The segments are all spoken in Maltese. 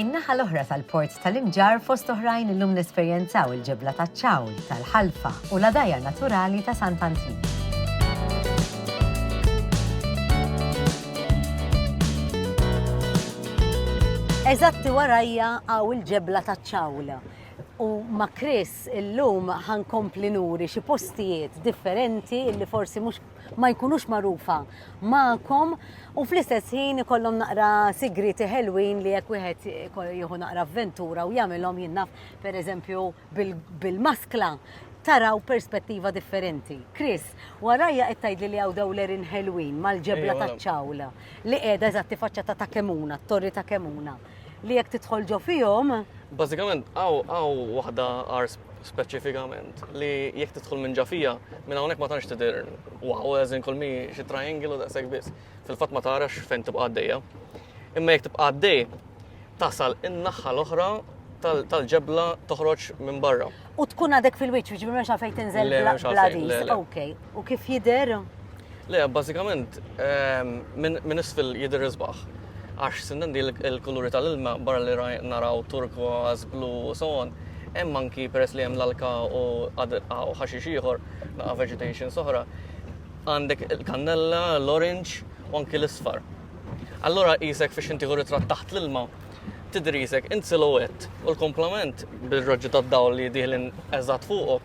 In-naħa l-oħra tal-Port tal-Imġarr fost oħrajn illum nesperjenzaw il-ġebla taċ-ċawl, tal-ħalfa u l-għadajjar naturali ta' Sant Antnin. Eżatti warajja hawn il-ġebla taċ-ċawl u ma' Chris illum ħankompli nuri xi postijiet differenti li forsi mhux ma jkunux magħrufa magħkom u fl-istess ħin ikollhom naqra sigrieti ħelwin li jekk wieħed jieħu naqra avventura u jagħmilhom jinnaf pereżempju bil-maskla taraw perspettiva differenti. Chris, warajja qed tgħidli li hawn dawlerin ħelwin mal-ġebla taċ-ċawla li qiegħda eżatti faċċata ta' Kemuna, t-torri ta' Kemuna. li jekk tidħol ġo fihom. Bażikament hawn waħda għar speċifikament li jekk tidħol minn ġafija minn hawnhekk ma tantx tidher wow eżin kull mi xi triangle u daqshekk biss. Fil-fatt ma tarax fejn tibqa' għaddejja. Imma jekk tibqa' għaddej tasal in-naħħa l-oħra tal-ġebla toħroġ minn barra. U tkun għadek fil-wiċċ, jiġifieri m'hemmx għalfejn tinżel bladis. Ok, u kif jidher? Le, bażikament ehm, minn isfel jidher isbaħ. Għax sindendi l-kuluri tal-ilma barra li naraw turku, blu u so on, hemm anki peress li hemm l-alka u ħaxix ieħor, naqa' vegetation soħra, għandek il-kannella, l-orange u anki l-isfar. Allora jisek fiex inti ritratt taħt l-ilma, tidrisek in silhouette u l-komplement bir-raġġi tad-dawl li dieħlin eżatt fuqok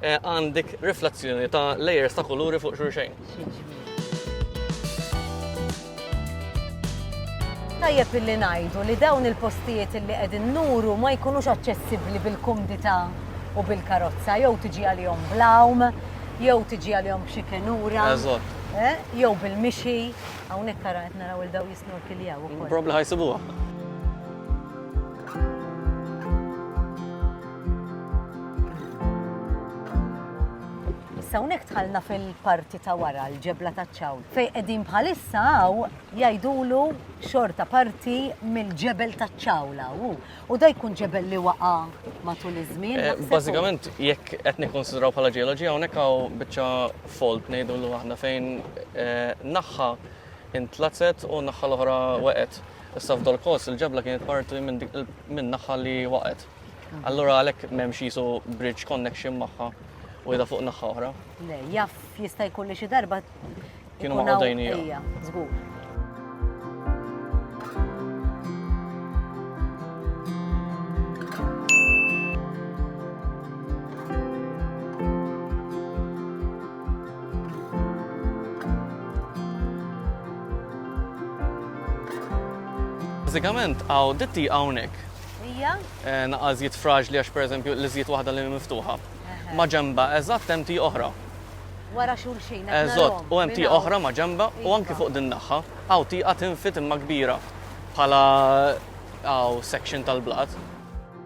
eh, għandik riflezzjoni ta' layers ta' kuluri fuq xulxejn. Tajjeb illi ngħidu li dawn il-postijiet illi qegħdin nuru ma jkunux aċċessibbli bil-kumdità u bil-karozza jew tiġi għalihom blawm, jew tiġi għalihom b'xi kenura. Eżatt. Eh, jew bil-mixi, hawnhekk ara qed naraw il daw Snorkiljaw ukoll. Probabbli ħa jsibuha. Issa hawnhekk tħallna fil-parti ta' wara l-ġebla taċ-ċawl. Fej qegħdin bħalissa hawn jgħidulu xorta parti mill-ġebel taċ-ċawl hawn. U da jkun ġebel li waqa' matul iż-żmien. Eh, bażikament jekk qed nikkonsidraw bħala ġeoloġija hawnhekk hawn biċċa folt ngħidulu aħna fejn eh, naħħa intlazet u n-naħħa l-oħra waqgħet. Issa f'Dol Kos il-ġebla kienet parti minn naħħa li waqgħet. Allura għalhekk m'hemmx jisu bridge connection magħha u jda fuq naħħa oħra. Le, jaf jista' jkun li xi darba kienu ma' għodajnija. Żgur. Bażikament hawn ditti hawnhekk. Hija? Eh, naqa' żjed fraġli għax pereżempju li żjed waħda li miftuħa. Ma ġemba eżatt hemm ti oħra. Wara xulxin. Eżatt, u hemm ti oħra ma ġemba u anki iva. fuq din naħħa. Hawn tieqa tinfit imma kbira bħala hawn section tal-blat.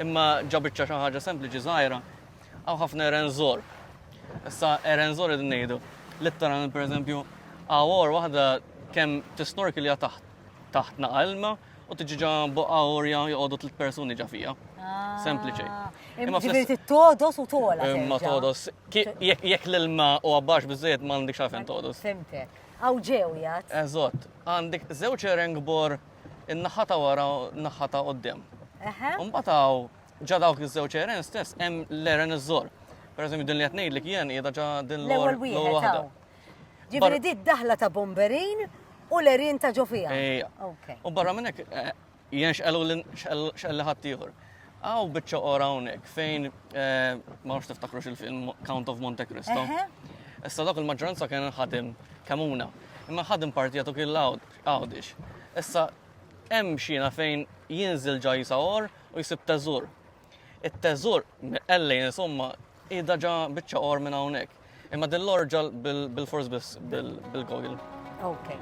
Imma ġa biċċa xi ħaġa sempliċi żgħira, hawn ħafna erenzor. Issa erenzor qed ngħidu. Litteralment pereżempju, għawor waħda kemm tisnorkilja taħt taħt naqalma u tiġi ġa boqqa orja joqogħdu tliet persuni ġa fija. Ah. Sempliċi. Imma ġifieri todos u tola. Imma todos. Jekk l-ilma u għabbax biżejjed ma għandikx għafen todos. Fimtek. Għaw ġew jgħat. Eżott, għandik żewġ erengbor in-naħa ta' wara u n-naħa ta' quddiem. Imbagħad hawn ġa dawk iż-żewġ eren stess hemm l-eren iż-żor. Pereżempju din li qed ngħidlek jien qiegħda ġa din l-ewwel waħda. Ġifieri di d-daħla ta' bomberin u l-erin ta' ġo fiha. U barra minn hekk eh, jien xqelu xqelli ħadd ieħor. Aw biċċa ora hawnhekk fejn eh, ma nafx tiftakrux il-film Count of Monte Cristo. Issa dak il-maġġoranza kien ħadim kamuna. Imma ħadim partijatu kien l-għawd Għawdix. Issa, hemm xina fejn jinżil ġa Jisagħor u jsib teżur. It-teżur, ellej insomma, qiegħda ġa biċċa or minn hawnhekk. Imma din l-orġa bil-fors biss bil-gogil. Okay.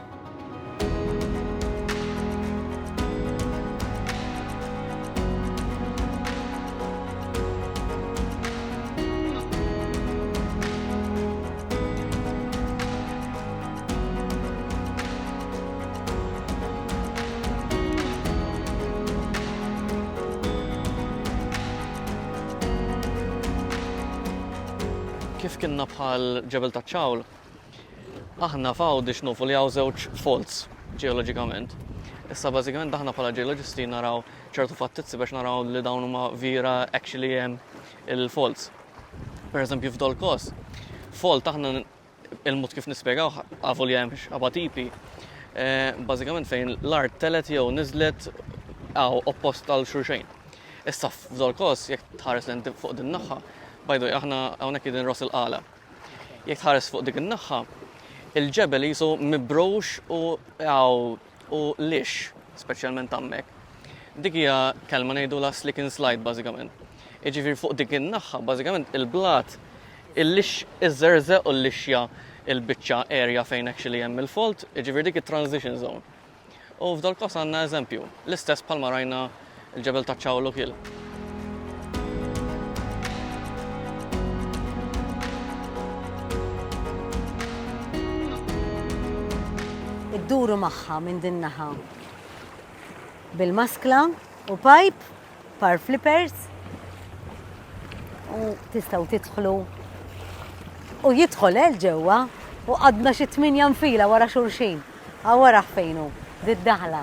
kif kienna bħal ġebel ta' ċawl, aħna fawdi xnufu li għaw żewġ folz ġeologikament. Issa bażikament aħna bħala ġeologisti naraw ċertu fattizzi biex naraw li dawn huma vira actually hemm il-folz. Per eżempju f'dol kos, folt aħna Il-mod kif nispjegawh, avolja hemm x'qaba' tipi, bażikament fejn l-art telgħet jew niżlet hawn oppost għal xulxejn. Issa f'Zolkos, jekk tħares lejn fuq din naħħa, by the way, aħna hawnhekk qegħdin Ros il-Qala. Jekk tħares fuq dik in-naħħa, il-ġebel qisu mibrux u hawn U l-ix, speċjalment hemmhekk, dik hija kelma ngħidulha slick and slide bażikament. Jiġifieri fuq dik in-naħħa bażikament il-blat il-lix iżżerżeq u l-lixja il-biċċa erja fejn actually hemm il-folt, jiġifieri dik it-transition zone. U f'dal-każ għandna eżempju, l-istess bħalma rajna il-ġebel taċ-Ċawlu kiel. idduru magħha minn din naħa. Bil-maskla u pipe, par flippers, u tistaw titħlu u jidħol el eh, ġewwa u għadna xi tminja nfila wara xulxin. Għawara fejnu, did-daħla.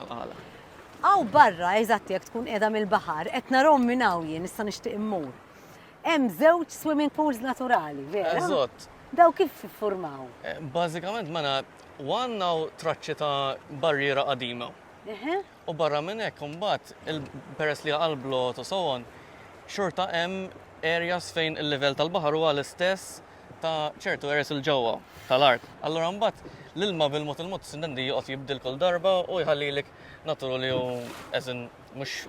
għala. Hawn barra, eżatt jekk tkun qiegħda mill-baħar, qed narahom minn hawn jien, issa nixtieq immur. Hemm żewġ swimming pools naturali, vera? Eżatt. Daw kif iffurmaw? Eh, bażikament mela u għandna traċċi ta' barriera qadima. U barra minn hekk imbagħad peress li għal blot u sewon, xorta hemm areas fejn il-livell tal-baħar huwa l-istess ta' ċertu għeres 'il ġewwa tal-art. Allura mbagħad l-ilma bil-mod il-mod sintendi joqgħod jibdil kull darba u jħallilek natur li hu as in mhux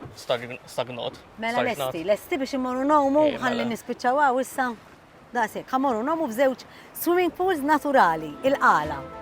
stagnat. Mela lesti, lesti biex immorru ngħumu ħalli mela. nispiċċaw hawn issa. Daqshekk, ħa morru ngħumu f'żewġ swimming pools naturali, il-qala.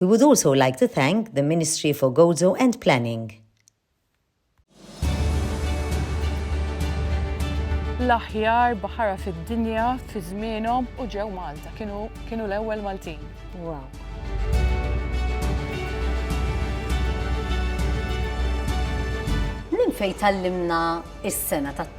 We would also like to thank the Ministry for Gozo and Planning. l-aħjar baħara fid-dinja fi żmienhom u ġew Malta. Kienu, kienu l-ewwel Maltin. Wow. Minn fejn tallimna is-sena tat